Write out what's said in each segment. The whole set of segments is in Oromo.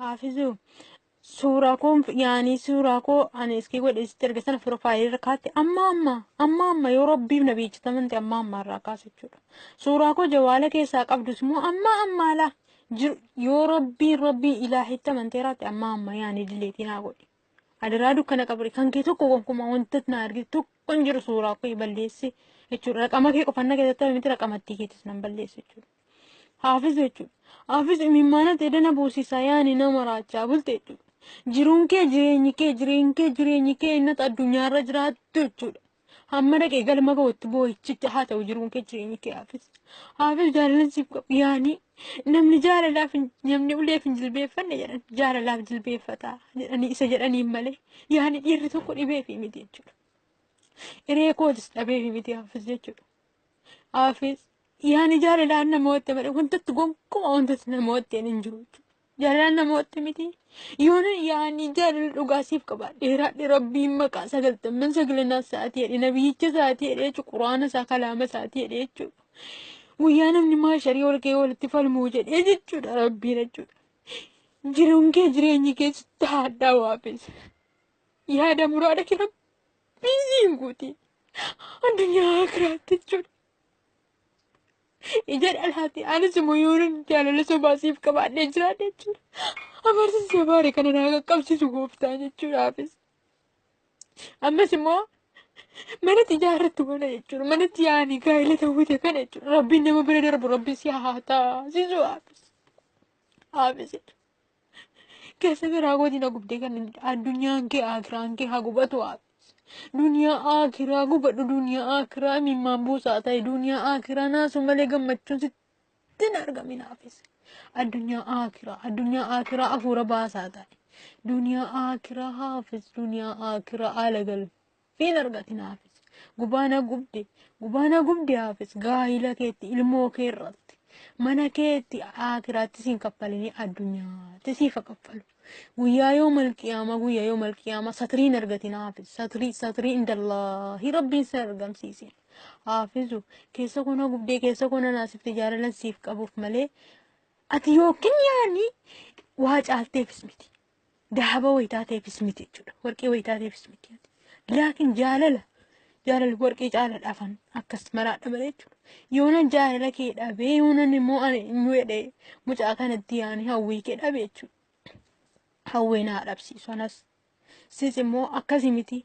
Haafizuu suuraa koo yaanii suuraa koo ani iskii godhe sitti erga sana piroofaayilii irra kaatti amma amma amma amma yoo rabbiif na beeksifaman ta'e amma amma irraa kaasa jechuudha. Suuraa koo jawaala keessaa qabdus immoo amma amma laa jiru yoo rabbiin rabbiin ilaahitti amantee irraatti amma amma yaanii dileetii naa godhi. Adaraa dukkana qabri kan kee tokko gonkumaa wanta na argite tokko hin jiru suuraa koo balleessi jechuudha. Raqama kee qofanna keessatti miti raqamattii keetis nan balleessi jechuudha. Haafiz jechuudha. Haafiz imimmaanatti edana buusisa yaani nama raachaa bulte jechuudha. Jiruun kee jireenyi kee jireenyi kee jireenyi kee innata addunyaarra jiraattu jechuudha. Hamma dhaqee galma ga'utti boo'ichicha haa ta'u jiruun kee jireenyi kee haafiz. Haafiz jaalala siif qabu yaani namni jaalalaaf hin- namni uleef hin jilbeeffanne jedhan jaalalaaf jilbeeffata jedhanii isa jedhaniin malee yaani dhiirri tokko dhibeefi miti jechuudha. Hiree kootis dhabeefi miti haafiz jechuudha. Haafis yaani jaalalaan namootti malee wantatti gonkumaa wantatti namootti hin jiru jechuudha. Jaalalaan namootti miti. Yoona yaani jaalala dhugaa siif qaba. Dheeraadhe rabbiin maqaa sagaltamman sagalanaa isaatii jedhe nabiyyicha isaatii jedhe jechuudha. Quraana isaa kalaama isaatii jedhe jechuudha. Guyyaa namni maasharii ol ka'ee walitti falmuu jedhee jechuudha rabbiin jechuudha. Jiruun kee jireenyi kee sitti haadhaa waafis. Yaada muraada kee rabbiin siin guuti. addunyaa akiraatti jechuudha. Ija dhalaati anis immoo yoon jaalala sobaa siif qabaadhee jiraadhe jechuudha. Amarsiisa baare kana naa qaqqabsiisu gooftaa jechuudhaafis. Ammas immoo manatti ijaarratti wala jechuudha. Manatti yaa'anii gaa'ela ta'uute kana jechuudha. Rabbiin nama bira darbu rabbiin si haa taasisu haafis. Haafis. keessa garaa kooti na gubdee kan addunyaan kee akiraan kee haa gubatu haa duniyaa akiraa gubadhu duniyaa akiraa imimmaan buusaa ta'e duniyaa akiraa naasuu malee gammachuun sitti hin argamin haafis addunyaa akiraa addunyaa akiraa afuura baasaa ta'e duniyaa akiraa haafis duniyaa akiraa haala galu Hin argatin haafis. Gubaa na gubde. Gubaa na gubde haafis. Gaa'ila keetti, ilmoo kee irratti. Mana keetti akiraatti siin kaffalinii addunyaatti siifa kaffalu. Guyyaa yoo malqiyaama guyyaa yoo malqiyaama satirii hin argatin haafis. Satirii satirii indallaahi rabbiin sin argamsiisin. Haafizu keessa koo na gubdee keessa koo na naasifte jaalalan siif qabuuf malee ati yookiin yaani waa caalteefis miti. Dahaba wayitaateefis miti jechuudha. Warqii wayitaateefis miti. Laakiin jaalala jaalala warqii caaladha afan akkas maraadha malee jechuudha. Yoonan jaalala kee dhabee yoonan immoo ani eenyu jedhee mucaa kanatti yaani hawwii kee dhabe jechuudha. Hawwee naa dhabsiisu anas. Sis immoo akkasii miti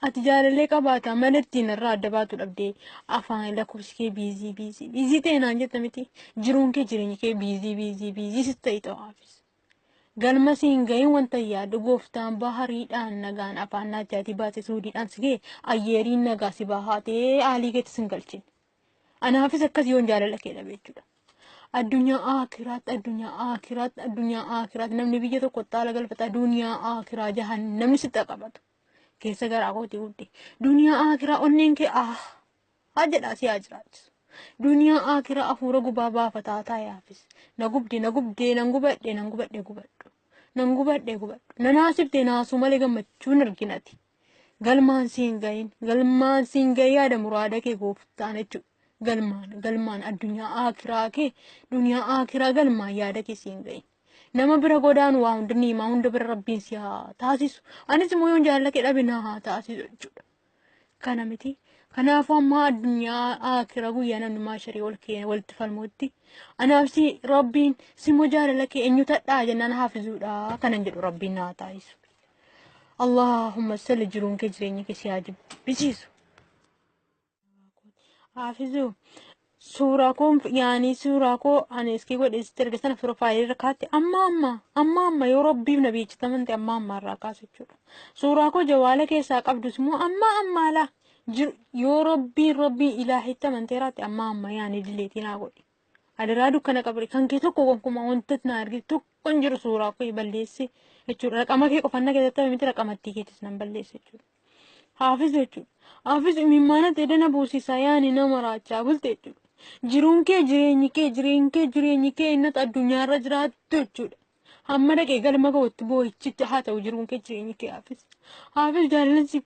ati jaalalee qabaata mala ittiin irraa adda baatu dhabdee afaan lakkoofsi kee biizii biizii biizii ta'e naan jetta miti jiruun kee jireenya kee biizii biizii biizii si ta'e ta'aafis. Galma si hin gahin wanta yaaddu gooftaan bahariidhaan nagaan afaan naachaatii baase suudiidhaan si ga'e ayyeeriin nagaa si bahaatee aalii keetti sin galchin. Anaafis akkas yoon jaalala kee dhabe jechuudha. Addunyaa aakiraatti addunyaa aakiraatti addunyaa aakiraatti namni biyya tokko xaala galfata duniyaa aakiraa jahan namni sitti qabatu. Keessa garaa kootii guddi. Duniyaa aakiraa onneen kee ah haa jedhaa si haa jiraachisu. Duniyaa aakira afuura gubaa baafataa taa'e haafis. Na gubde na gubdee nan gubadhe nan gubadhe gubadhu. Nan gubadhe gubadhu. Na naasifte naasuu malee gammachuu hin arginati. Galmaan si hin gahin galmaan si hin gahin yaada muraada kee gooftaan jechuudha. Galmaan galmaan addunyaa aakiraa kee duniyaa aakiraa galmaan yaada kee si hin gahin. Nama bira godaan waa hunda niimaa hunda bira rabbiin si haa taasisu. Anis immoo yoon jaalala kee dhabe na haa taasisu jechuudha. kana miti. Kanaafuu ammaa addunyaa akira guyyaa namni maasharii ol kee walitti falmuutti anaaf si rabbiin simmoo jaalala kee eenyu tadhaa jennaan haafizuudha kanan jedhu rabbiin naa taasisu. Allahumma salli jiruun kee jireenya kee si haa jibbisiisu. Haafizuu Suuraa koo yaanii suuraa koo ani iskii godhe sitti erga sana piroofaayilii irra kaatti amma amma amma amma yoo rabbiif na beeksitaman ta'e amma amma irraa kaasa jechuudha. Suuraa koo jawaala keessaa qabdus immoo amma amma laa jiru yoo rabbiin rabbiin ilaahitti amantee raatti amma amma yaanii dileetii naa godhi. Adiraa dukkana qabri kan kee tokko gonkumaa wanta na argite tokko hin jiru suuraa koo balleessi jechuudha. Raqama kee qofanna keessatti miti raqamattii keetis nan balleessi jechuudha. Haafiz jechuudha. Haafiz imimmaanatti edana buusisa yaani nama raachaa bulte jechuudha. Jiruun kee jireenyi kee jireenyi kee jireenyi kee innata addunyaarra jiraattu jechuudha. Hamma dhaqee galma ga'utti boo'ichicha haa ta'u jiruun kee jireenyi kee haafiz. Haafiz jaalalli